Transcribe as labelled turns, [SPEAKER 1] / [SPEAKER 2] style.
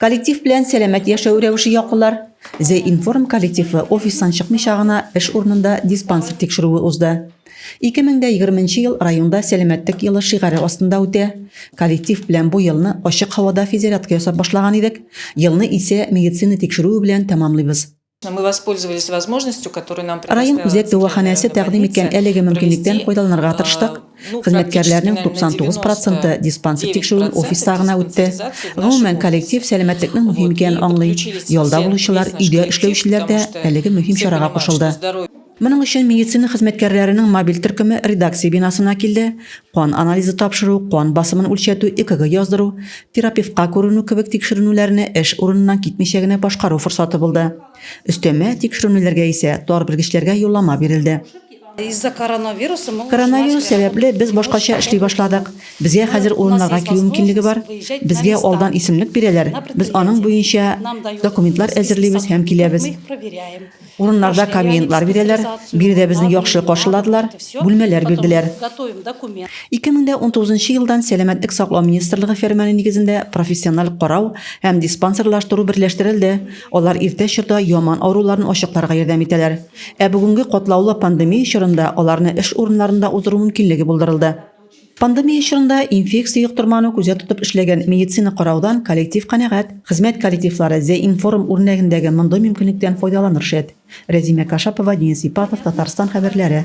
[SPEAKER 1] Коллектив белән сәламәт яшәү рәвеше яклылар. The Inform коллективы офистан чыкмыйча гына эш урынында диспансер тикшерүе узды. 2020 ел районда сәламәтлек елы шигаре астында үтә. Коллектив белән бу елны ачык һавада физзарядка ясап башлаган идек, елны исә медицина тикшерүе белән тәмамлыйбыз.
[SPEAKER 2] Район үзәк дәваханәсе
[SPEAKER 1] тәкъдим иткән әлеге мөмкинлектән файдаланырга тырыштык. Хезмәткәрләрнең 99 проценты диспансер тикшерүен офиста гына үтте. Гомумән, коллектив сәламәтлекнең мөһим икәнен аңлый. Ялда булучылар, өйдә эшләүчеләр дә әлеге мөһим чарага кушылды. Моның өчен медицина хезмәткәрләренең мобиль төркеме редакция бинасына килде, кан анализы тапшыру, кан басымын үлчәтү, ЭКГ яздыру, терапевтка күренү кебек тикшеренүләрне эш урыныннан китмичә генә башкару форсаты булды. Өстәмә тикшеренүләргә исә тар белгечләргә юллама бирелде. Коронавирус сәбәпле без башкача эшли башладык. Безгә хәзер урыннарга килү мөмкинлеге бар. Безгә алдан исемлек бирәләр, без аның буенча документлар әзерлибез һәм киләбез. Урыннарда комментлар бирәләр, биредә безне яхшы каршыладылар, бүлмәләр бирделәр. 2019 елдан Сәламәтлек саклау министрлыгы фәрманы нигезендә профессиональ карау һәм диспансерлаштыру берләштерелде, алар иртә чорда яман авыруларны ачыкларга ярдәм итәләр. Ә бүгенге катлаулы пандемия чорында аларны эш урыннарында уздыру мөмкинлеге булдырылды. Пандемия чорында инфекция йоктырмауны күздә тотып эшләгән медицина караудан коллектив канәгать. Хезмәт коллективлары Зе-информ үрнәгендәге мондый мөмкинлектән файдаланыр шәт. Рәзимә Кашапова, Денис Ипатов, Татарстан хәбәрләре.